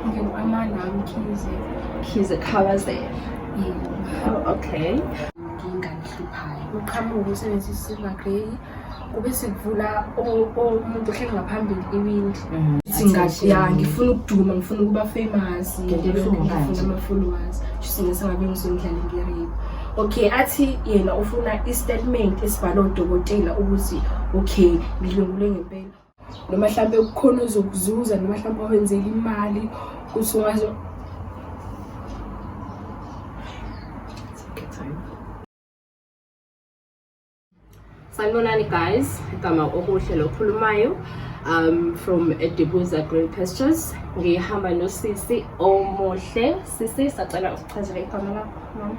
ngikwama nami khize khize khabaze oh, okay nginganihluphayo uqhamuke usebenzisa isilver grey kube sikuvula umuntu ohleli ngaphambili iwindi mm-hmm. singathi ya ngifuna ukuduma ngifuna ukuba famous ngifuna ama-followers singesangabe ngisondlale ngeriba okay athi yena ufuna i-statement esibhalwe udokotela ukuthi okay ngidlwengule ngempela noma mhlawumbe kukhona ozokuzuza noma mhlawumbe wenzela imali ukuthi ungazo sanibonani guys igama okuhle lokhulumayo um from edibuza green pastures ngihamba nosisi omuhle Sisi sacela usichazele igama lakho mama.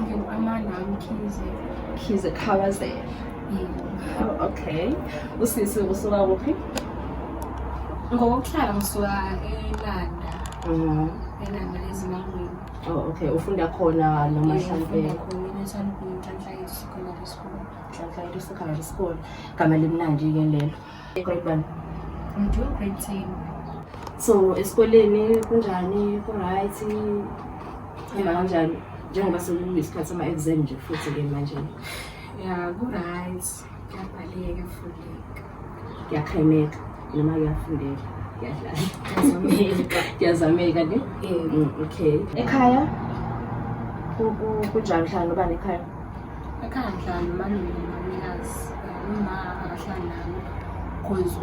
Ngingu-Amanda Mkhize. Mkhize Khabazela. Oh, okay. Usisi usuka kuphi? Ngokuhlala ngisuka eLanda. Mhm. eLanda ezimangweni. Oh, okay. Ufunda khona noma mhlampe Nhlanhla Secondary School. Gama limnandi ke lelo. Grade 1. I'm doing grade 10. So esikoleni kunjani ku-right hamba kanjani njengoba sekuyisikhathi sama-exam nje futhi-ke manje Ya ku-right. Kuyabhaleka fundeka. kuyakhayimeka noma kuyafundeka kuyadlala Kuyazameka. kuyazameka ne Eh, Mm, okay ekhaya ku- ku- kunjani hlala nobani ekhaya ekhaya ngihlala nomalume nomamikazi uma akahlali nami cause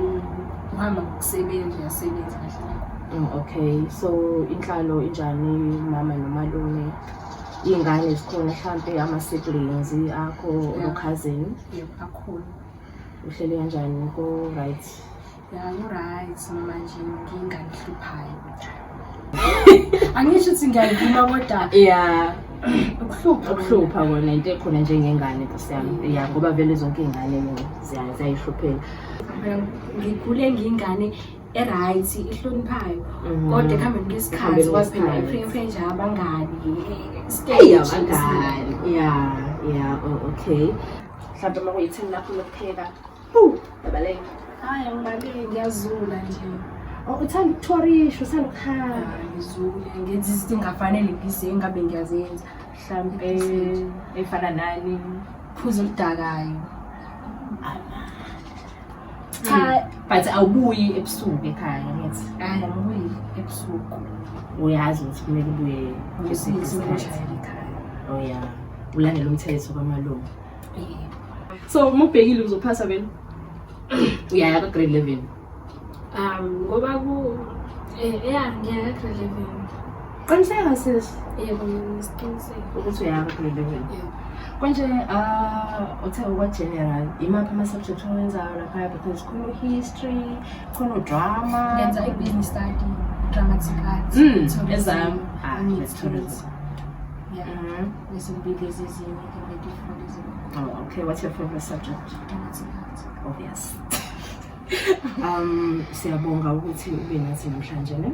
uhamba ngokusebenza uyasebenza kahlala Mm, okay so inhlalo injani mama nomalume iy'ngane zikhona mhlampe ama-siblings akho Yeah. okhazini yebo akhona uhlele kanjani ko-right angisho ukuthi ngiyayivuma kodwa ya ukuhlupha ukuhlupha kona into ekhona njengengane kusiyami ya ngoba vele zonke iy'ngane ziyayihluphela ngikhule ngiyingane e-right ihloniphayo mhm. kodwa ekuhambeni kwesikhathi kwazi phela iprefre nje abangani stage ya ya okay mhlawumbe uma kuyi-ten lakho lokupheka Yabaleka. Hayi ngibaleki ngiyazula nje. Oh, uthanda ukuthorisha, uthanda ukuhamba. Ngizule ngenza izinto engafanele busy engabe ngiyazenza. Mhlampe efana nani phuza oludakayo. Cha, but awubuyi ebusuku ekhaya ngithi. Hayi angibuyi ebusuku. Uyazi ukuthi kumele ubuye ngesikhathi. Oh yeah. Ulandela umthetho kwamalungu. so uma ubhekile uzophasa vele uyaya ka-grade eleven um ngoba ku eh, ya ngiyaya ka-grade eleven qiniseka sis yebo ngisiqiniseka ukuthi uyaya ka-grade eleven konje uh, uthe ukwa-general imaphi ama-subject owenzayo laphaya because khona u-history khona udrama ngenza i-business study dramatic arts mm, ezam ah, let's do it. Yeah. Mm -hmm. This will be busy. Oh, okay. What's your favorite subject? Oh, yes. um, siyabonga ukuthi ube nathi namhlanje ne.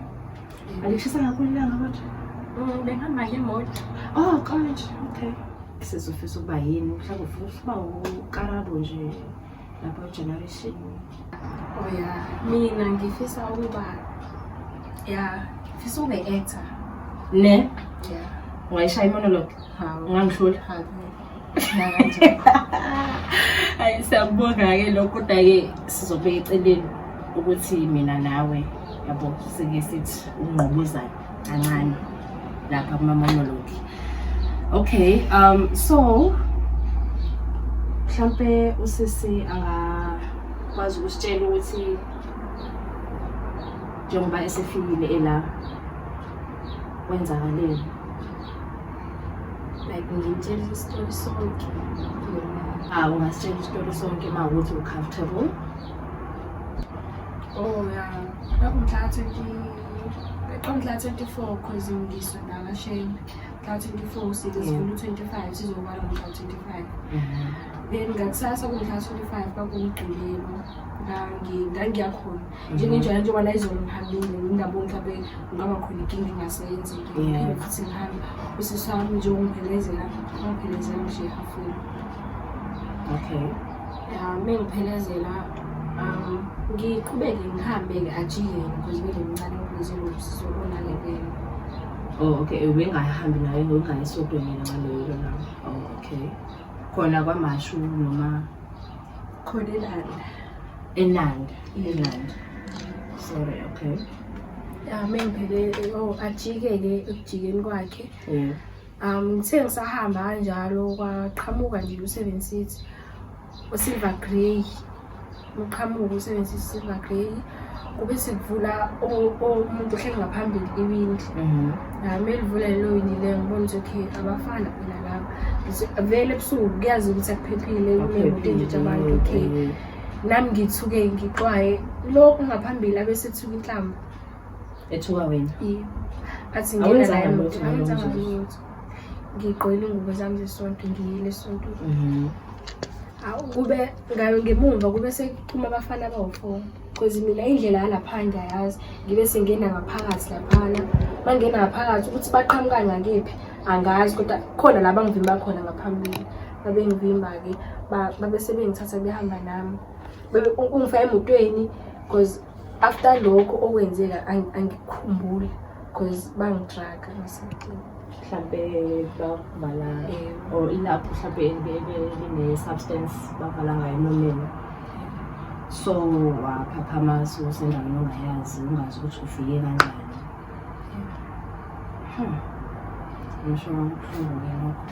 Alishisa kakhulu ilanga kodwa. Mm, Bengihamba ngemoto. Oh, college. Okay. Sizofisa ukuba yini? Mhlawumbe ufuna ukuba ukarabu nje. lapha generation oh ya mina ngifisa ukuba ya ngifisa ube actor ne ya ungayishaya imonologue ungangihlula hayi siyakubonga-ke lokho kodwa-ke sizobeka eceleni ukuthi mina nawe yabo sike sithi ungqobuzayo kancane lapha kuma-monolog okay um so mhlampe usisi angakwazi ukusitshela ukuthi njengoba esefikile ela kwenzakaleni like ngimtshela isitori sonke ah ungasitshela isitori sonke uma ukuthi u-comfortable oh ya yeah. Umhla 24 cause ngisho nakasheni. Mhla 24 sithi sivula 25 sizokubala ngomhla 25. Then ngakusasa kumhla 25 kwakumgqilelo. Ngangi ngangiyakhona. Njengenjalo njengoba la izolo ngihambile ngindabo mhlawumbe kungaba khona inkinga engasenzi. Ngiphinde futhi ngihambe. Usisi wami nje ungiphelezela, ungiphelezela nje hafuni. Okay. Uma ngiphelezela um ngiqhubeke ngihambe-ke ajike because ngilemncane ukuze ngobusisi obonakekele Oh okay, ubengahambi naye ngokungane esodweni yena ngaloyo na. Oh okay. Khona kwamashu noma khona elanda. Enanda, elanda. Sorry, okay. Ya mengibheke oh ajike-ke ekujikeni kwakhe. Yeah. Um ngithe ngisahamba kanjalo kwaqhamuka nje u-seven city. usilver grey umqhamuko usebenzisa isilver grey kube sikuvula umuntu ohleli ngaphambili iwindi mhm. nami elivula lelo windi leyo ngibona ukuthi okay abafana phela laba vele ebusuku kuyazi ukuthi akuphephile kunemoto enjitha abantu okay nami ngithuke ngixwaye lokhu ngaphambili abesethuka inhlamba ethuka wena yebo athi ngena naye emoto awenzanga lutho ngigqoyile ingubo zami zesonto ngiyile esontweni mhm. awu kube ngayo ngemumva kube sekuphuma abafana abawu-four because mina indlela yalapha ngiyayazi ngibe sengena ngaphakathi laphana bangena ngaphakathi ukuthi baqhamuka ngakephi angazi kodwa khona la bangivimba khona ngaphambili babengivimba-ke babe sebengithatha behamba nami ungifaka emotweni because after lokho okwenzeka angikhumbuli because bangidraga ngisedini mhlampe bakuvala or ilapho mhlampe line-substance bavala ngayo emlomeni so waphaphama so sendaweni ongayazi ungazi ukuthi ufike kanjani Hmm. ngisho ngakubuhlungu-ke lokho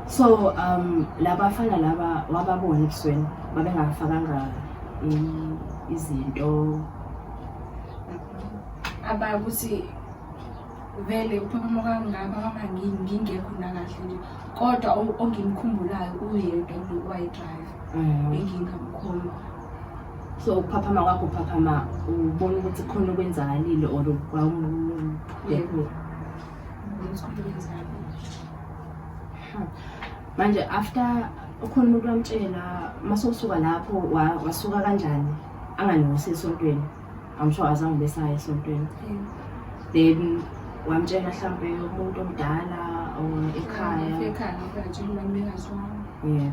so um labafana laba wababona ebusweni babengafakanga izinto abakuthi vele uphakama kangaka mama ngingekho nakahle nje kodwa ongimkhumbulayo uyedwa nje wayidrayiva mm. engingamkhomba so ukuphaphama kwakho uphaphama ubona ukuthi khona okwenzakalile or kwawudekhula manje after ukhona umuntu wamtshela masowusuka lapho wasuka kanjani angangiwusi esontweni amsho azange besayo esontweni then wamtshela mhlawumbe umuntu omdala or ekhaya yeah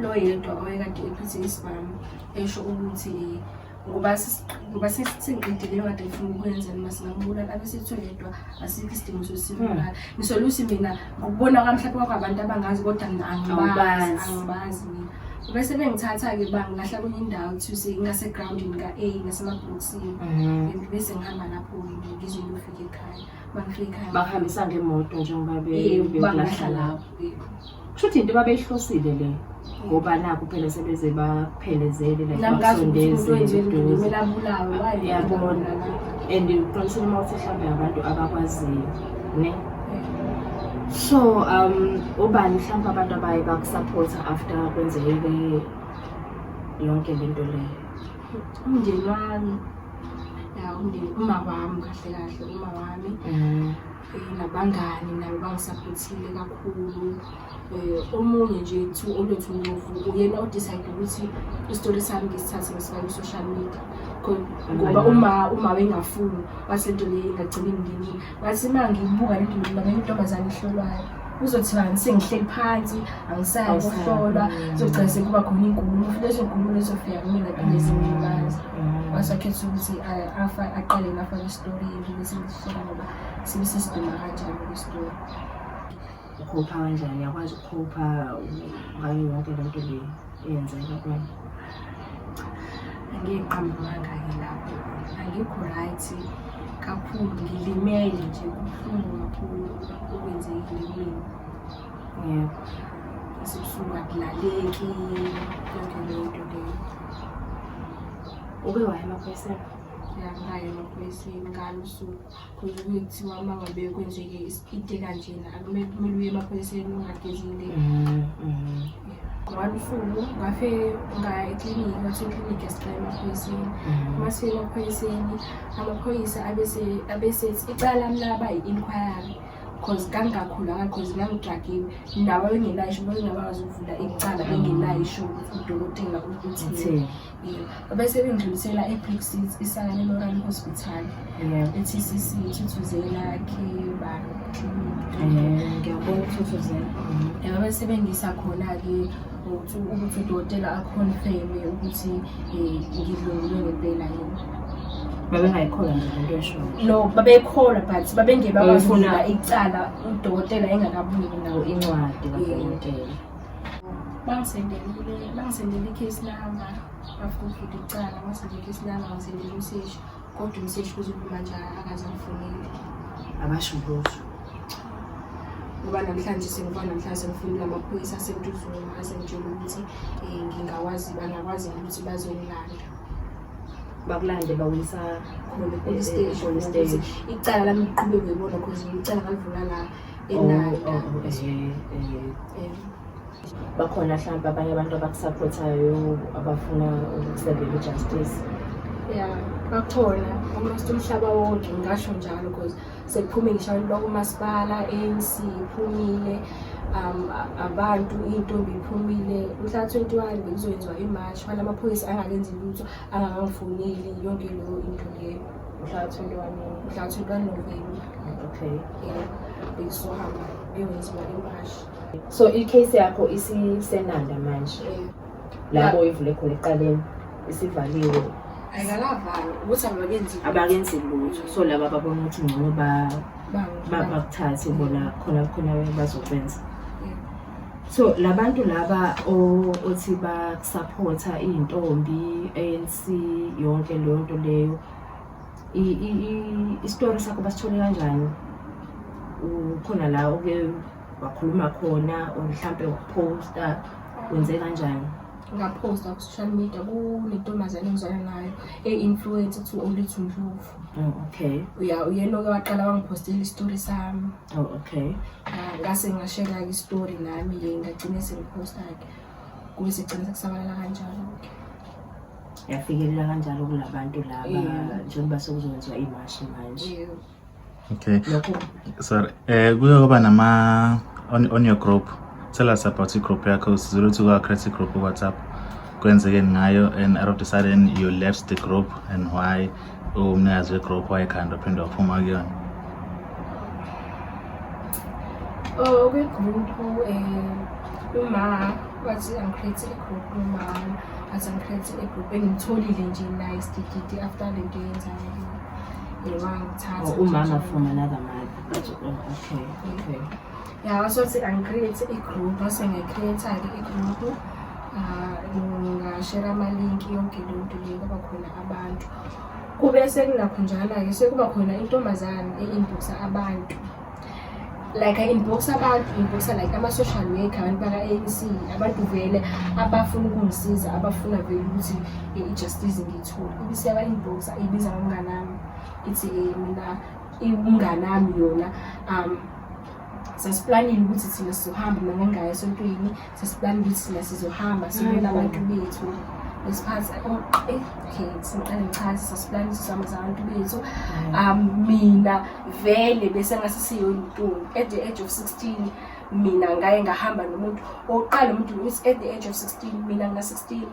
loyedwa owayekade ephethe isibhamu esho ukuthi ngoba ngoba sesiqedile leyo kade ngifuna ukwenza noma singambulala abesithiwe yedwa asikho isidingo sosibulala hmm. ngisola ukuthi mina ngokubona kwami mhlawumbe kwakho abantu abangazi kodwa mina angibazi angibazi mina bese bengithatha-ke ba ngilahla kwenye indawo kuthiwuse ingasegroundini ka-a ngasemabhokisini hmm. and bese ngihamba lapho ngizwe ngiyofika ekhaya bangifika ekhaya bahambisa ngemoto njengoba bebelahla lapho kushuthi into babeyihlosile le ngoba naku phela sebeze baphelezele like basondezeyabona and uqinisile uma uthi mhlawumbe abantu abakwaziyo ne so um ubani mhlawumbe abantu abaye bakusapotha after kwenzeke yonke le nto leyo umndeni wami ya umndeni uma wami kahle kahle uma wami mm. nabangani nabo bangisaphothile kakhulu um omunye nje two olwethu ndovu uyena odicide ukuthi isitori sami ngisithathe ngisifake i-social media ngoba uma uma wengafuni wathi lento le ingagcini nginini wathi uma ngibuka lento le ngamanye intombazane ihlolwayo uzothibani sengihleli phansi angisayi kuhlolwa zogcina sekuba khona inkulumo futhi lezo nkulumo lezofika kumina phinde zingilimaza wasakhetha ukuthi aqale ngafaka isitori sibe sesiduma kanjani kwisitulo ukhopha kanjani uyakwazi ukukhopha ngayo yonke le nto le eyenzeka kwena angiqambukangake lapho angikho right kakhulu ngilimele nje kubuhlungu kakhulu okwenzekile kumina yebo esibusuku akulaleki yonke leyo nto leyo uke waya emaphoyiseni Nakaye amaphoyisa ingane usuku khona kuthiwa uma ngabe kwenzeke isipite kanjena akumele kumele uye emaphoyiseni ungagezile mm, mm. one usuku ngafe ngaya ekliniki ngathi ikliniki yasicela emaphoyiseni mm. uma sifika emaphoyiseni amaphoyisa abesethi icala mlaba i-inquiry cause kangingakhulanga cause ngangidragiwe nawo bengenayo isho bengingabazi ukuvula icala bengenayo isho udokotela ukuthi bese bengidlulisela e-brick seat isakane lorani hospital e-tcc ithuthuzela khiba ngiyabona ukuthuthuzela yaba bese bengisa khona-ke ukuthi udokotela akhonfeme ukuthi um ngidlungulwe ngempela yini babengayikholwa nje lento eshoyo no babeyikholwa but babengebe abafuna icala udokotela engakabuyi nawo incwadi kadokotela bangisendelile bangisendele ikhesi lama bafuna ukuvula icala bangisendele ikhesi lama bangisendele umseshi kodwa umseshi kuzokuma njalo akaze angifunile abasho lutho ngoba namhlanje sengiba namhlanje sengifunile amaphoyisa asentuzuma asengitshela ukuthi um ngingakwazi bangakwazi ukuthi bazongilanda bakulande bawisa khona icala lami liqhubeke ibona cause icala ngalivula la bakhona mhlawumbe abanye abantu abakusaphothayo abafuna ukusebela ijustice ya bakhona almost umhlaba wonke ngingasho njalo because sekuphume ngisho abantu bakumasipala anc iphumile um abantu iy'ntombi iphumile mhla twenty one bekuzoyenziwa imarch fana amaphoyisa angakenzi lutho angakangifoneli yonke leyo into leyo mhla 21 mhla 21 November okay yeah bekusohamba beyongenziwa impahla so i-case yakho isisenanda manje lapho oyivule khona eqaleni isivaliwe ayikalavalwa ukuthi abakenzi abakenzi lutho so laba babona ukuthi ngcono bakuthathe bona khona khona bazokwenza so labantu laba othi bakusaphotha iy'ntombi ANC yonke leyo nto leyo isitori sakho basithole kanjani ukhona la oke wakhuluma khona or mhlampe waphosta wenze kanjani ngaphosta ku-social media kunentombazane engizwana nayo e-influence to olithi ndlovu oh, okay uya uyena oke waqala wangiphostela isitori sami oh, okay ngase ngashela-ke isitori nami-ke ngagcine sengiphosta-ke kube sigcina sekusabalala kanjalo ke yafikelela kanjalo kulabantu laba njengoba sekuzokwenziwa imashi manje okay sorry eh kuyoba nama on, on your group tell us about i-group yakho sizile ukuthi kwa-create i-group whatsapp kwenzekeni ngayo and out of the sudden you left the group and why umnikazi wegrop wayekhanda uphinde waphuma kuyona oh kwigroup um eh, uma wathi angikhethe igroup uma athi angikhethe igroup engimtholile nje naye sidididi after le nto yenzayo yewangithatha oh, umama from another mother okay okay Ngiyakwazi ukuthi angi-create i-group, mase ngi-create-ke i-group. Ah, ngingashera amalinki yonke le nto le kwaba khona abantu. Kube sekunakhonjana-ke sekuba khona intombazane e-inbox-a abantu. Like i-inbox-a abantu, i-inbox-a like ama-social worker, abantu baka-ANC, abantu vele abafuna ukungisiza, abafuna vele ukuthi i-justice ngiyithole. Ibisiyaba-inbox-a, ibiza ngomnganami, ithi mina umnganami yona um sasiplanile ukuthi thina sizohamba mina ngangingaya esontweni sasiplanile ukuthi thina sizohamba sibona abantu bethu ngesikhathi okay siqale ngichaze sasiplanile sihamba zabantu bethu um mina vele bese ngase siyontungu at the age of 16 mina ngaye ngahamba nomuntu oqala umuntu at the age of 16 mina nga 16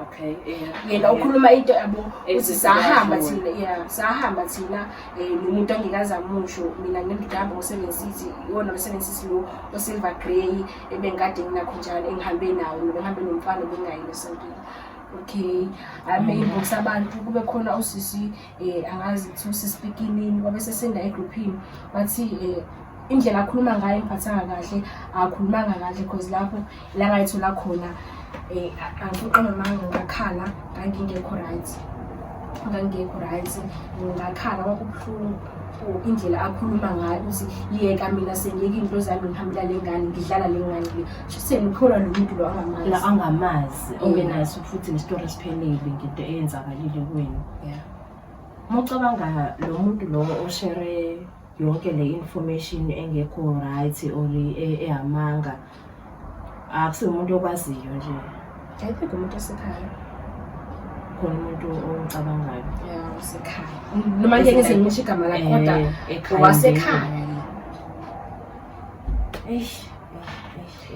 okay yeah yena ukhuluma into yabo uthi sahamba thina yeah sahamba thina eh nomuntu ongikaza musho mina ngimdamba ngosebenzisi iwona msebenzisi lo osilver grey ebengikade nginakho njalo engihambe nawo ngihambe nomfana bengayi esontweni okay amen ngokusabantu kube khona usisi um angazi ukuthi usisipikinini kwabe sesenda egruphini wathi um indlela akhuluma ngayo imphathanga kahle akhulumanga kahle because lapho la ngayithola khona um angifuqa mamanga ngakhala ngangingekho right ngangingekho right ngakhala kwakubuhlungu indlela akhuluma ngayo ukuthi yeka mina sengiyeka into zami ngihambela le ngane ngidlala le ngane le shuseni ukholwa lo muntu lo angamazi angamazi ongenaso futhi nesitori esiphelele ngento eyenzakalile kwenu yeah mucabanga lo muntu lo oshere yonke le information engekho right or e, ehamanga akusiwo umuntu okwaziyo nje i think umuntu osekhaya khona umuntu ongicabangayo yeah osekhaya noma nje ngize ngisho igama lakhe eh, kodwa wasekhaya eish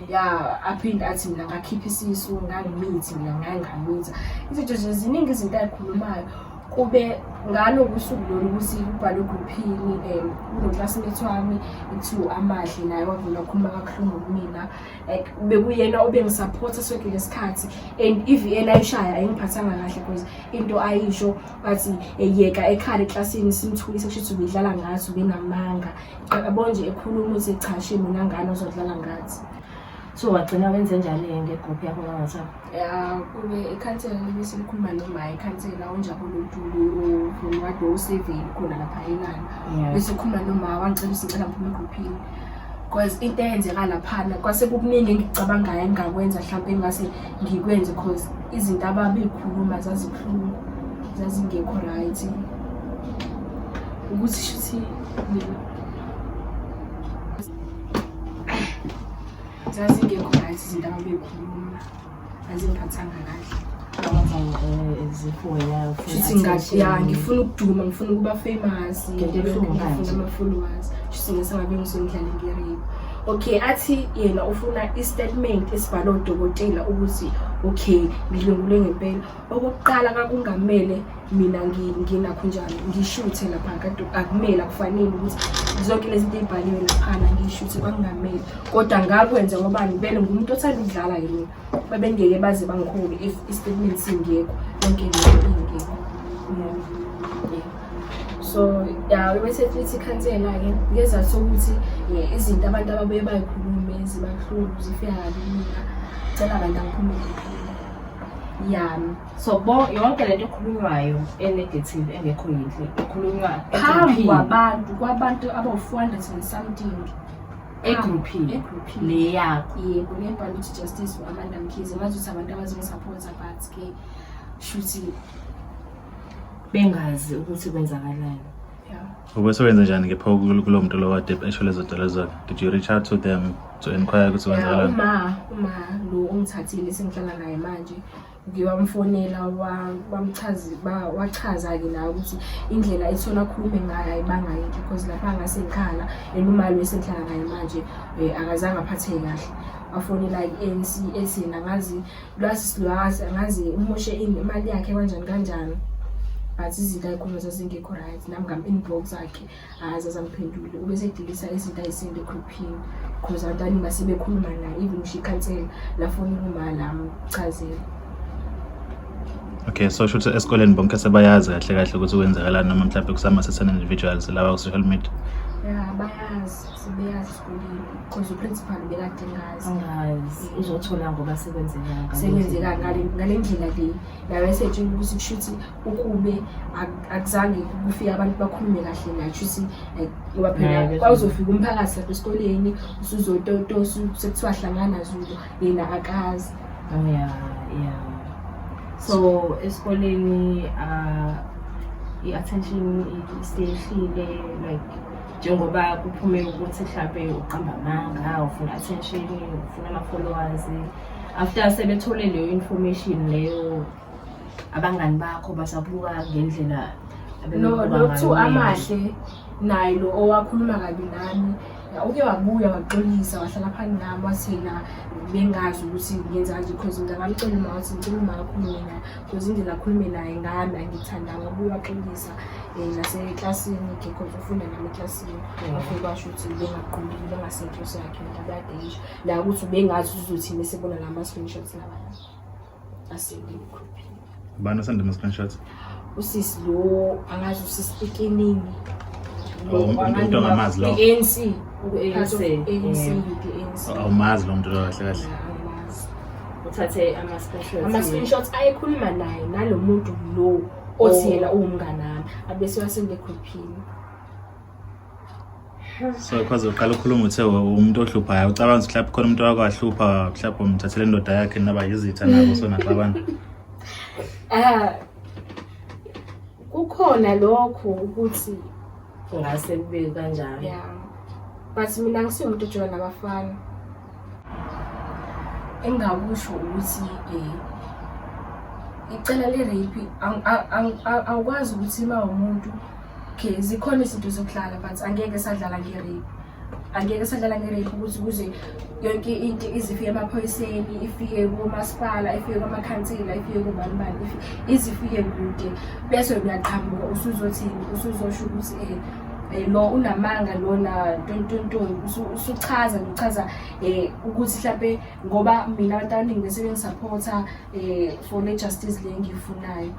ya aphinde athi mina ngakhipha isisu ngangimithi mina ngangamitha izinto nje ziningi izinto ayikhulumayo kube ngalo kusuku lolu ukuthi kubhalwe grouphini um eh, unoclassmate wami kuthiwa amahle naye wavula wakhuluma kabuhlungu kumina like bekuyena obengisaphotha sonke lesikhathi and i-vn ayishaya ayingiphathanga kahle because into ayisho bathi eyeka eh, ekhala eklasini simthulise kusho ukuthi ubedlala ngathi ubenamanga akabonje ekhuluma uthi cha shimo nangane ozodlala ngathi so wagcina wenze njani-ke ngegroup yakho kaWhatsApp ya kube ikhansela libe selikhuluma noma ikhansela unjabule untuli uwade useveli khona lapha elana bese ukhuluma noma wangicela usicela ngiphume egruphini because into eyenzeka laphana kwase kukuningi engicabangayo engingakwenza mhlawumpe engingase ngikwenze because izinto ababeyikhuluma zazibuhlungu zazingekho right ukuthi shuthi zazingekho right izinto ababekhuluma azingiphathanga kahle shuthi ngathi ya ngifuna ukuduma ngifuna ukuba famous ngifuna ama-followers shuthi ngesangabe ngisomdlali ngiyariba okay athi yena ufuna i-statement esibhalwe udokotela ukuthi okay ngidlwengulwe ngempela okokuqala kakungamele mina nginakho njani ngishuthe lapha kade akumele akufanele ukuthi zonke lezi zinto ey'bhaliwe laphana ngiyishuthe kwakungamele kodwa ngakwenza ngobani bele ngumuntu othanda ukudlala yini babengeke baze bangikhulu if istatement singekho yonke lento ingekho so ya wesefithi ikhansela-ke ngezathu sokuthi eh, izinto abantu ababuye bayikhulume zibahlulu zifika kabi mina cela abantu angiphumele yami so bo yonke lento ekhulunywayo enegative engekho yinhle ekhulunywa phambi kwabantu kwabantu abawu-400 and something egruphini egruphini le yakho yebo ngebhala ukuthi justice for amanda mkhize ngazi ukuthi abantu abazongisaphotha but ke shuthi bengazi ukuthi kwenzakalani yeah. Ubese wenze njani ke pho kulo muntu lo wade esho lezo dolo zakhe? Did you reach out to them to inquire ukuthi kwenzakalani? Uma uma lo ongithathile sengihlala naye manje ngiwamfonela wamchazi wachaza ke naye ukuthi indlela ethona khulume ngayo ayibanga yinto because lapha ngase ngikhala and umali wesenhlala ngaye manje eh, akazange aphatheke kahle afonela i-ANC ethi nangazi lwasi silwasi angazi umoshe imali yakhe kanjani kanjani but izinto ayikhuluma zazingekho right nami ngam-inbox akhe hayi zazamphendule ube sedilisa izinto ayisinde egrouphini because abantu aningi basebekhuluma naye even usho ikhansela lafona ukuma lami chazela okay so sho ukuthi esikoleni bonke sebayazi kahle kahle ukuthi kwenzakalani noma mhlawumbe kusama sesena individuals laba ku-social media ya bayazi sebeyazi because uprincipal bekade ngazi uzothola ngoba sekwenzekanga sekwenzeka ngale ndlela le naye esetshela ukuthi kusho ukuthi ukube akuzange kufike abantu bakhulume kahle naye kusho ukuthi like ngoba phela kwawuzofika umphakathi lapha esikoleni usuzototo sekuthiwa hlangana zulu yena akazi oh, ya ya so esikoleni uh, i-attention isehlile like njengoba kuphume ukuthi mhlampe uqamba amanga ufuna attention ufuna ama-followers after sebethole leyo information leyo abangani bakho basabuka ngendlela nokuthu amahle naye lo owakhuluma kabi nami uke wabuya waxolisa wahlala phani nami wathi na bengazi ukuthi ngenza kanje because ngingabamcela uma wathi ngicela uma akhulume naye because indlela akhulume naye ngami angithandanga ubuye waxolisa um naseklasini because ufunda nami eklasini mm. ngakho basho ukuthi bengaqondile bengasenhle sakhe nto abadeisha la ukuthi ubengazi uzothi mesebona la ma-screenshots labana asengimkhuphile ubani osanda ama-screenshots usisi lo angazi usisi ekeningi ongamazi lo ANC ANC awumazi lo muntu lo kahle kahle uthathe ama-screenshots ama-screenshots ayekhuluma naye nalo muntu lo othi oh. yena uwumngane wami abese wasende grouphini so kwaze uqala ukhuluma uthe umuntu ohluphayo ucabanga ukuthi mhlawumbe khona umuntu owake wahlupha mhlawumbe umthathele indoda yakhe naba yizitha nabo so naxabana ah kukhona lokho ukuthi ngase kube kanjalo yeah but mina ngisiwumuntu ojola nabafana engingakusho ukuthi um icala le-rape awukwazi ukuthi uma umuntu okay zikhona izinto zokudlala but angeke sadlala nge-rape angeke sadlala nge-rape ukuthi kuze yonke into izifike emaphoyiseni ifike komasipala ifike kwamakhansela ifike kubanibani izifike kude bese uyaqhamuka usuzothini usuzosho ukuthi um Eh, lo unamanga lona tontonton usuchaza ngichaza um eh, ukuthi mhlawumpe ngoba mina abantu abaningi bese bengisaphotha um eh, for le justice le engiyifunayo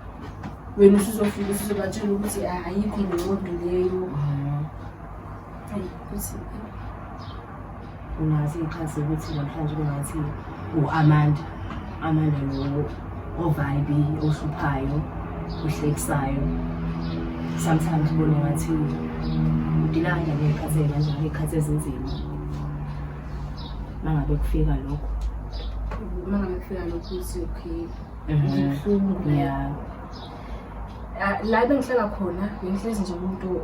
wena usuzofika usuzobatshela ukuthi ah, ayikho nqondo leyo mm. Ungathi ngixhase ukuthi namhlanje kungathi u-Amanda Amanda lowo ovibe ohluphayo ohlekisayo sometimes ubone ngathi udila kanjani ngey'khathi ey'kanjani ngey'khathi ezinzima mangabe kufika lokho mangabe kufika lokho uthi okay mhm. ubuhlungu yeah Ah, la bengihlala khona bengihlezi nje umuntu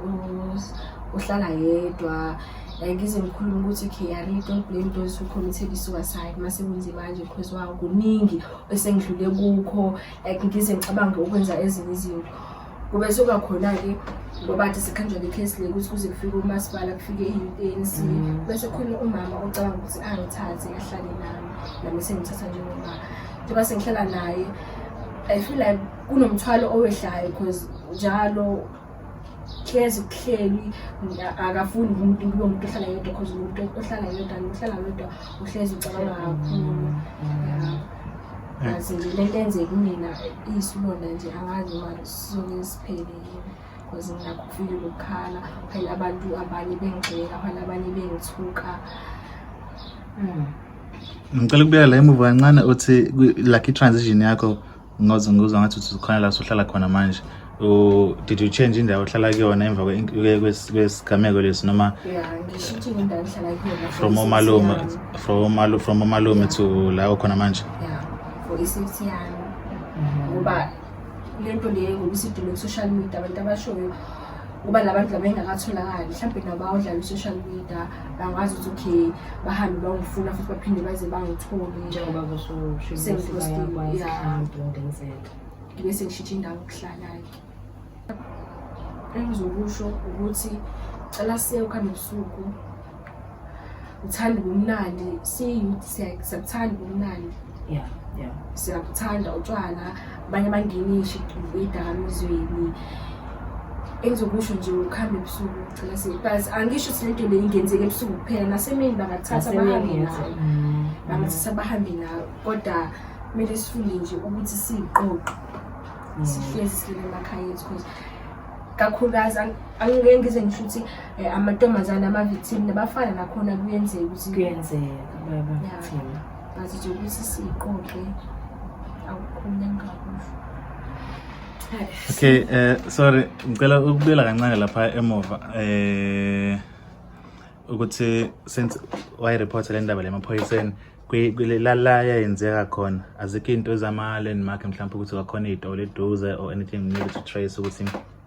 uhlala yedwa like ize ngikhulume ukuthi okay i really don't blame those who committed i-suicide uma sekunze manje because wawo kuningi esengidlule kukho like ngize ngicabange ukwenza ezinye izinto kube soba khona-ke ngoba athi sikhanjwa ngekhesi le ukuthi kuze kufike umasipala kufike i-anc mm. bese khona umama ocabanga ukuthi angithathe ahlale nami nami sengithatha njengomama njengoba sengihlala naye I feel like kunomthwalo owehlayo because njalo hlezi kuhleli akafuni umuntu kulo muntu ohlala yedwa because umuntu ohlala yedwa nohlala yedwa uhlezi ucabanga kakhulu azi nje le nto enzeka kumina iyisilonda nje angazi uma sizonge siphelile because ngilakho ukufika ukukhala phela abantu abanye bengigxeka phela abanye bengithuka mm. ngicela ukubuyela la emuva kancane uthi like i-transition yakho ngoze ngizwa ngathi uthi khona la usuhlala khona manje did you change indawo ohlala kuyona emva kwesigameko lesi noma from omalume from omalume to la ukhona manje for i-safety yami ngoba le nto le ngokusidinga ku-social media abantu abashoyo ngoba la bantu laba engakatholakali mhlawumbe nabo awudlala i-social media bangazi ukuthi okay bahambe bangifuna futhi baphinde baze bangithole njengoba kushushibayakwazihambeungenzeka ngibe sengishitshe indawo okuhlala-ke engizokusho ukuthi cela siye ukuhambe ebusuku uthanda ubumnandi siyi-youth siyakuthanda ubumnandi yeah yeah siyakuthanda utshwala abanye abangenisha idakamizweni engizokusho nje ukuhamba ebusuku ngicela sithi but angisho ukuthi lento le ingenzeka ebusuku kuphela nasemini bangathatha bahambe nayo mm. bangathatha bahambe nayo kodwa kumele sifunde nje ukuthi siyiqoqe mm. sihlezi silele emakhaya ethu because kakhulukazi angike ngize ngisho ukuthi eh, amantombazane ama-victim nabafana nakhona kuyenzeka ukuthi kuyenzeka baba-victim ngazi nje ukuthi siqoqe akukhona engakusho okay eh sorry ngicela ukubuyela kancane lapha emuva eh ukuthi since wayireporta le ndaba lemaphoyiseni la yayenzeka khona azikho into ezama-land mark mhlawumpe ukuthi kwakhona iy'tolo eduze or anything needed to trace ukuthi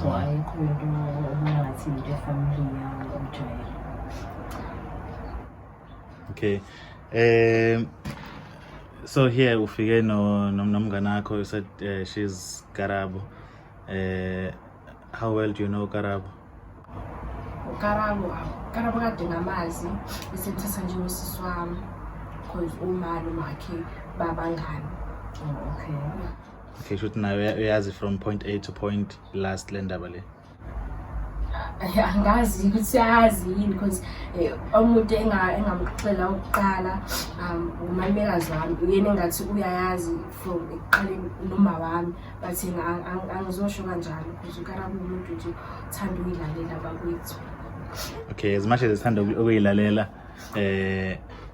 so ayikho into obungathi into efamily yawo umjwayelo okay um so here ufike no nomngane wakho you said uh, she's Karabo uh, how well do you know Karabo Karabo Karabo kade ngamazi isethesa nje usisi wami because umali umakhe babangani oh, okay okay shuthi nayo uya- uyazi from point a to point last le ndaba le Eh, angazi ukuthi uyazi yini because um umuntu enga- engamxela ukuqala um umamekazi wami uyena engathi uyayazi from ekuqaleni noma wami but yena ang- ang- angizosho kanjalo because ukara kuwumuntu nje uthanda ukuyilalela bakwethu okay as much as esithanda uku- ukuyilalela eh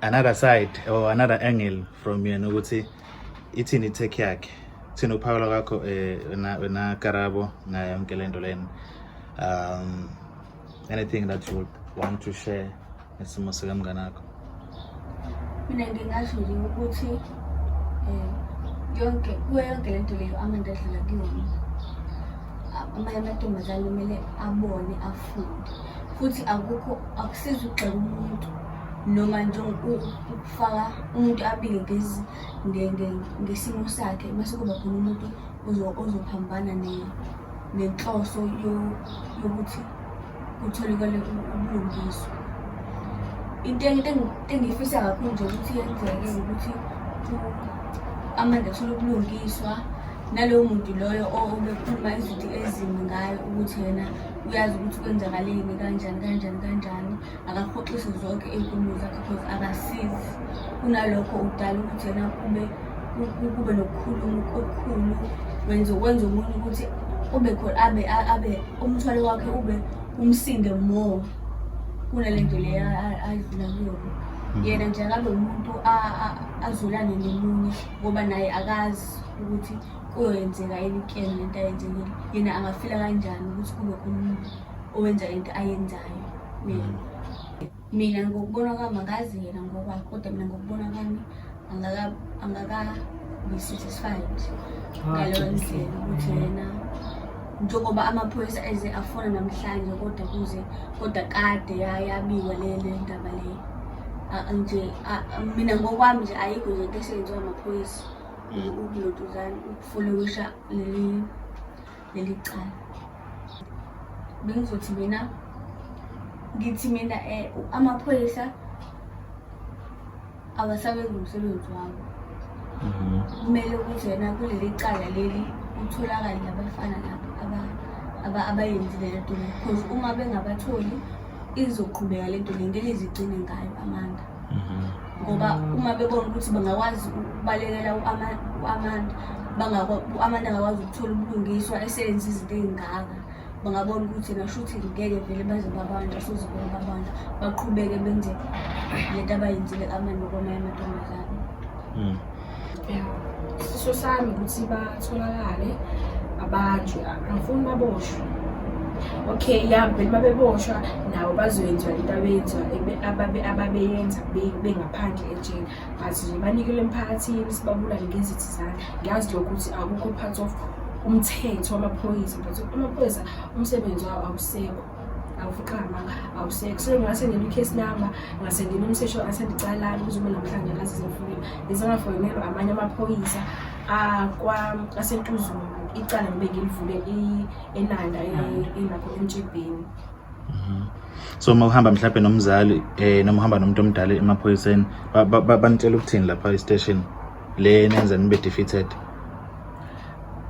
another side or another angle from yena ukuthi ithini itech yakhe thina ukuphawula kwakho eh, wena wena karabo ngayo yonke lento lena um anything that you would want to share ngesimo sikamngane akho mina ngingasho nje ukuthi um yonke kuyo yonke le nto leyo amanda adlula kuyona amanye amantombazane kumele abone afunde futhi akukho akusizi ukugxeka umuntu noma nje ukufaka umuntu abike ngezi ngesimo sakhe mase kuba khona umuntu ozophambana nenhloso yokuthi kutholakale ubulungiswa into engiyifisa kakhulu nje ukuthi yenzeke ukuthi amanda athole ubulungiswa nalowo muntu loyo obekhuluma izinto ezimbi ngayo ukuthi yena uyazi ukuthi kwenzakaleni kanjani kanjani kanjani akahoxise zonke iy'nkulumo zakhe because akasizi kunalokho udala ukuthi yena kube kube nokukhuluma okukhulu wenze kwenza umuntu ukuthi ube khona abe abe umthwalo wakhe ube umsinde more kunale nto le adlula kuyona mhm. yena nje akabe umuntu azulane nomunye ngoba naye akazi ukuthi kuyoyenzeka yini kuyena le nto ayenzekile yena angafila kanjani ukuthi kube khona umuntu owenza into ayenzayo mina mina ngokubona kwami angazi yena ngoba kodwa mina ngokubona kwami angakabi-satisfied ah, ngaleyo ndlela ukuthi yena njengoba amaphoyisa eze afona namhlanje kodwa kuze kodwa kade yabikwa le ndaba leyo nje mina ngokwami nje ayikho nje into eseyenziwa amaphoyisa ukuloduzana ukufolowusha leli leli cala bengizothi mina ngithi mina um amaphoyisa awasabenzi umsebenzi wabo mhm. kumele ukuthi wena kuleli cala leli utholakale labafana labo abayenzile le nto le because uma bengabatholi izoqhubeka le nto le ngeke izigcine ngayo amanga ngoba uma bebona ukuthi bangakwazi ukubalekela u-amanda u-amanda angakwazi ukuthola ubulungiswa eseyenza izinto ey'ngaka bangabona ukuthi nashuthi ngeke vele baze babanjwa soze vele babanjwa baqhubeke benze le nto abayenzile amanda okwamanye amantombazane hmm. isifiso sami ukuthi batholakale abanjwe angifuni baboshwe okay ya vele babeboshwa nabo bazoyenziwa into abeyenziwa ababeyenza bengaphandle ejele but nje banikele emphakathini sibabulale ngezithi zami ngiyazi lokho ukuthi akukho part of umthetho wamaphoyisa but amaphoyisa umsebenzi wawo awusekho awufika amanga awuseke so ngase ngena i-case number ngase ngena umsesho asendicalani kuze ube namhlanje ngazi zimfunile ngisengafonelwa amanye amaphoyisa akwa asentuzulu icala ngibe ngilivule enanda elapho emjibheni mhm. so uma uhamba mhlawumbe nomzali eh noma uhamba nomuntu omdala emaphoyiseni banitshela ukuthini lapha e-station le nenza nibe defeated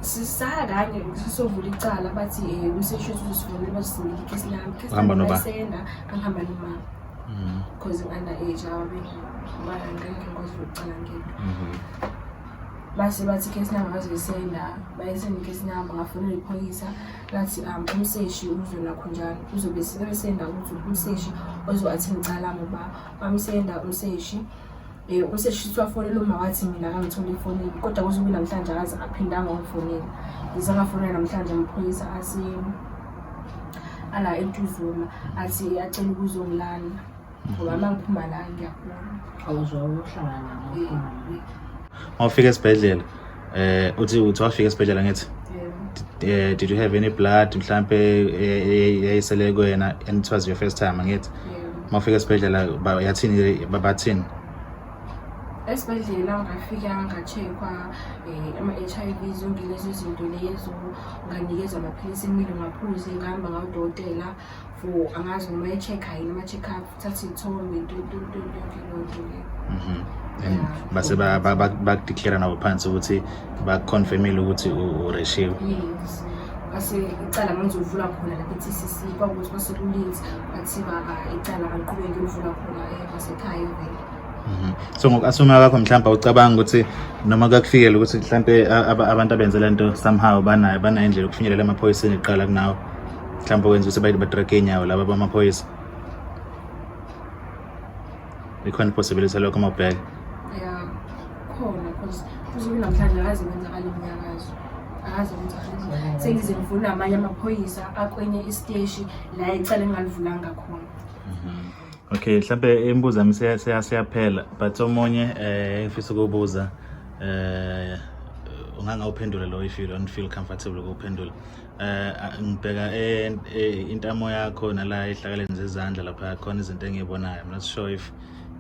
sisaya kanye sisovula icala bathi um eh, umseshi wethu uzosivonela bazosingela ikhesi lami ikhesi Uhamba lami noba? layisenda angihamba nomama Mhm, because u-under age abangeke ngikwazi ukucala ngento mhm. base bathi ikhesi lami abazoyisenda bayisenda ikhesi lami ngafonela iphoyisa lathi um umseshi uzona khonjalo uzobe sebesenda ukuthi umseshi ozo-athe ngicala lami uba bamsenda umseshi Eh, um useshiswa afonele uma wathi mina akangitholi ifonini kodwa kuze kube namhlanje akaze aphindanga wangifonela ngize ngafonela namhlanje amaphoyisa ase ala entuzuma athi acela ukuzongilala ngoba uma ngiphuma la ngiyaphuma awuzwa uhlangana ngawufika esibhedlela eh uthi uthi wafika esibhedlela ngithi eh did you have any blood mhlambe yayisele eh, eh, kuyena and it was your first time ngithi mafika esibhedlela yathini babathini esibhedlela ngafika ngacheckwa um ama-h i v zonke lezo zinto lezo nganikezwa amaphilisi emile ngaphuze ngihamba ngawudokotela for angazi noma e-check-a yini ama-check up thatha iy'thombe yonke lonto le Mhm. And base ba- ba- ba- bakudeclare nabo phansi ukuthi bakuconfirmile ukuthi u- ureshiwe yes base icala ngangizolivula khona lapha e-tcc kwakukuthi basekulinzi bathi baba icala angiqhubeke livula khona eh, basekhaya vele Mhm. so ngoku-asuma kwakho mhlawumbe awucabanga ukuthi noma kakufikele ukuthi mhlawumbe a- aba- abantu abenze le nto somehow banayo banayo indlela yokufinyelela emaphoyiseni kuqala kunawo mhlawumbe wenza ukuthi bayithi batrake iy'nyawo laba bamaphoyisa ikhona ipossibility lokho mabheke ya khona cause usuku namhlanje akaze kwenzakala imnyakazo akaze kwenzakala sengize ngivula amanye amaphoyisa akwenye isiteshi la icala engalivulanga khona mhm. okay mhlawumbe imibuzo yami seyaphela but omunye um eh, ngifisa ukubuza um eh, ungangawuphendula lo if you don't feel comfortable ukuwuphendula eh ngibheka e, e, intamo yakho nala ehlakaleni zezandla lapha khona izinto engiyibonayo i'm not sure if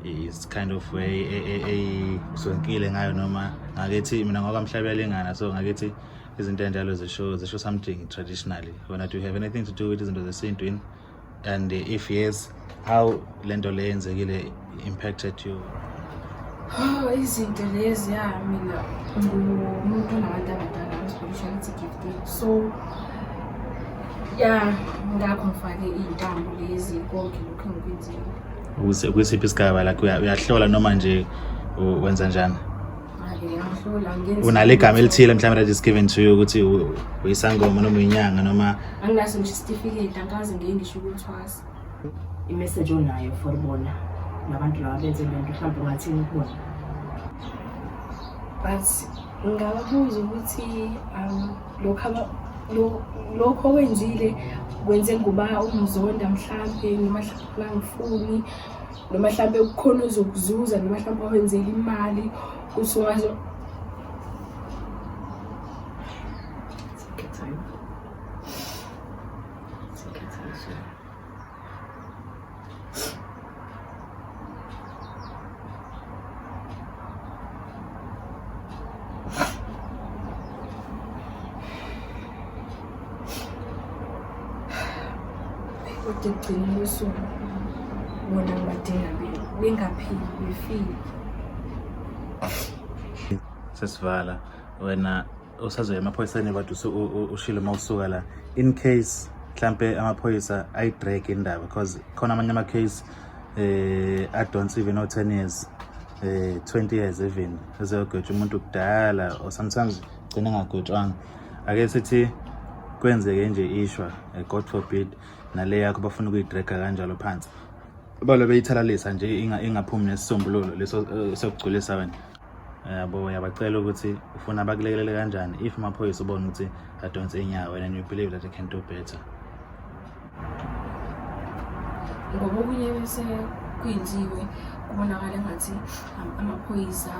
it's kind of way eyizonkile e, ngayo noma ngakethi mina ngokamhlabelingana so ngakethi izinto enjalo zisho zisho something traditionally wena do you have anything to do with izinto zesintu yini and if yes how lento le yenzekile impacted you Oh, izinto lezi ya mina ngumuntu onabantu abadala ngisibonisa ukuthi gift so ya ngakho ngifake iy'ntambo lezi konke lokhu engikwenzile Ukuse- kwisiphi isigaba like uya- uyahlola noma nje u- wenza njani unalo igama elithile mhlawumbe that is given to you ukuthi uyisangoma noma uyinyanga noma anginaso ngisho isitifiketi angikaze ngiye ngisho ukuthwasa imessage onayo for bona nabantu laba benze le nto mhlawumbe ungathini kubona but ngababuza ukuthi um, lokho okwenzile kwenze nguba umzonda mhlampe noma mhlawumbe angifuni noma mhlawumbe kukhona ozokuzuza noma mhlawumbe wenzela imali usungaze kodwa ekugcina kosuku bona ngibadinga bengaphili befile sesivala wena usazoya emaphoyiseni kodwa ushile uma usuka la in case mhlampe amaphoyisa ayi-drag indaba because khona amanye ama-case eh adonse even o-ten years eh 20 years even ezeyogwetsha umuntu kudala or sometimes gcina ngagwetshwanga ake sithi kwenzeke nje ishwa eh, god forbid nale yakho bafuna ukuyidraga kanjalo phansi balo beyithalalisa nje ingaphumi nesisombululo leso eh, sokugculisa wena yabo yabacela ukuthi ufuna bakulekelele kanjani if amaphoyisa ubona ukuthi adonse inyawo and you believe that they can do better ngoba okunye bese kwenziwe kubonakala engathi um, amaphoyisa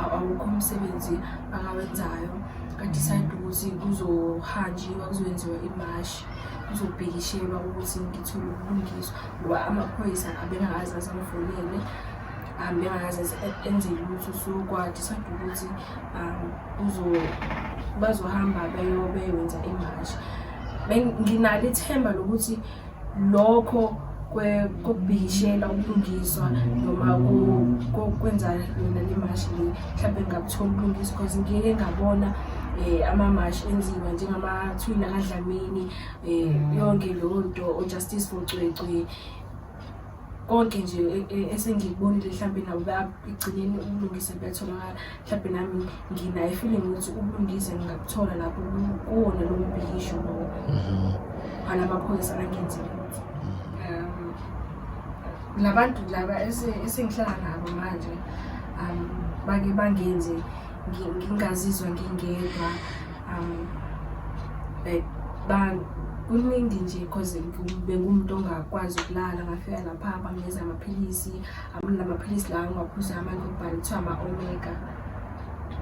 awukho umsebenzi akawenzayo kadecide ukuthi kuzohanjiwa kuzokwenziwa imashi kuzobhekishelwa ukuthi ngithole ubulungiswa ngoba amaphoyisa abengakazi asamfonele um bengakaze enze lutho so kwadecide ukuthi um bazohamba beyobewenza imashi nginalo ithemba lokuthi lokho kokubhikishela ubulungiswa noma kokwenza yona le mashi le mhlawumbe ngakutholi ubulungisa because ngike ngabona um amamashi enziwa njengamathwini akadlamini um yonke leyo nto ojustice for cwecwe konke nje e, e, esengikubonile mhlawumbe nabo ekugcineni ubulungise buyatholakala mhlawumbe nami nginayo ifeeling ukuthi ubulungise ngingakuthola lapho kuwona lowo mbhikisho lowo mhm. ala maphoyisa angenzile um labantu laba esengihlala nabo manje um bake bangenze ngingazizwa ngingedwa um like kuningi nje cause bengumuntu ongakwazi ukulala ngafika lapha bangeza amaphilisi amla amaphilisi lawa ngiwaphuza amanye okubhala kuthiwa ama-omega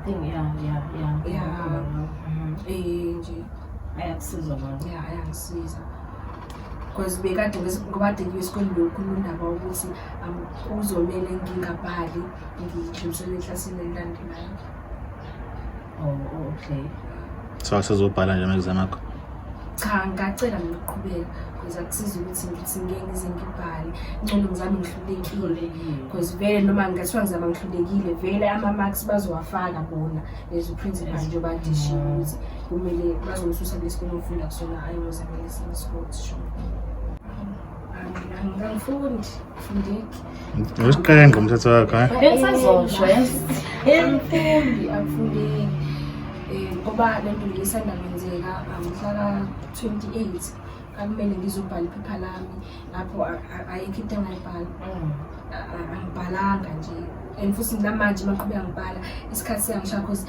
thing ya ya ya ya mhm. eh nje ayakusiza manje ya ayangisiza because bekade ngobade ngiyo esikoleni lokhu nondaba ukuthi um, kuzomele ngingabhali ngidlulisele eklasini elilandelayo Oh, oh okay. So asizobhala nje ama-exam akho? Cha, ngacela ngiqhubeka because akusiza ukuthi ngithi ngeke ngize ngibhale. Ngcono ngizame ngihlulekile because vele noma ngathiwa ngizama ngihlulekile vele ama-marks bazowafaka bona as principal nje badishiwe mm. ukuthi kumele bazongisusa kule sikole ngifunda kusona hhayi ngozamele esinye isikole sho. Angifundi, ngifundeki. Usiqenga umthetho wakho ha? Eh? Bensazosho yemfundi amfundeki eh, ngoba le nto ngisanda kwenzeka ngihlala 28 akumele ngizobhala iphepha lami lapho ayikho into engayibhala mm. angibhalanga nje and futhi namanje maqhubeka ngibhala isikhathi siyangishaya cause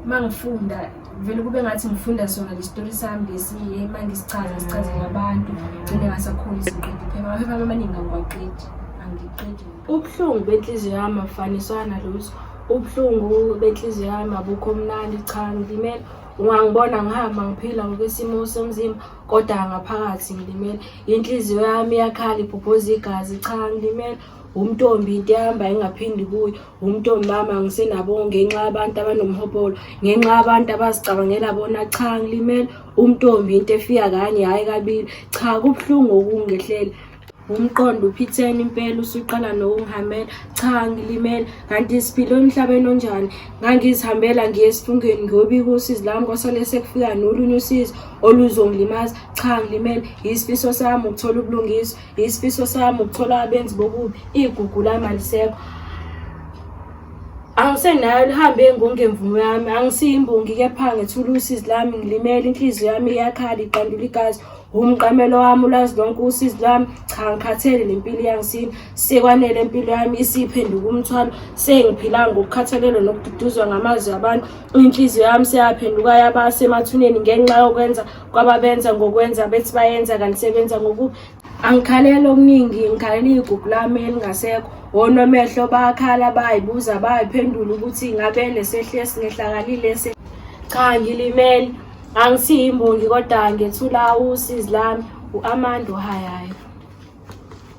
uma ngifunda vele kube ngathi ngifunda sona lesitori sami lesi ma ngisichaza sichazele abantu gcine ngasakhona izinqedi phela amaphepha amaningi angiwaqedi angiqedi ubuhlungu benhliziyo yami afaniswa nalutho ubuhlungu benhliziyo yami abukho mnandi cha ngilimele ungangibona ngihamba ngiphila ngokwesimo somzimba kodwa ngaphakathi ngilimele inhliziyo yami iyakhala ibhobhoza igazi cha ngilimele wumntombi into ehamba ingaphindi kuyo wumntombi mama ngisenabo ngenxa yabantu abanomhobolo ngenxa yabantu abazicabangela bona cha ngilimele umntombi into efika kanye hhayi kabili cha kubuhlungu okungehlela umqondo uphithene impela usuqala nokungihamela cha ngilimele kanti siphile emhlabeni onjani ngangizihambela ngiye esifungeni ngiyobika usizi lami kwasale sekufika nolunye usizi oluzongilimaza cha ngilimele yisifiso sami ukuthola ubulungiswa isifiso sami ukuthola abenzi bokubi igugu lami alisekho angisenayo lihambe ngongemvumo yami angisiyimbongi kepha ngethulusi lami ngilimele inhliziyo yami iyakhala iqandula igazi umqamelo wami ulazi lonke usizi lwami cha ngikhathele nempilo yangisini sekwanele impilo yami isiphenduka umthwalo sengiphila ngokukhathalelwa nokududuzwa ngamazwi abantu inhliziyo yami seyaphenduka yaba semathuneni ngenxa yokwenza kwababenza ngokwenza bethi bayenza kanti sebenza ngoku angikhaleli okuningi ngikhalela iyigugu lami elingasekho wonomehlo bakhala bayibuza bayiphendula ukuthi ngabe lesehli esingehlakalile se cha ngilimele angisiyimbongi kodwa ngethula usizi lami u-amanda uhayayo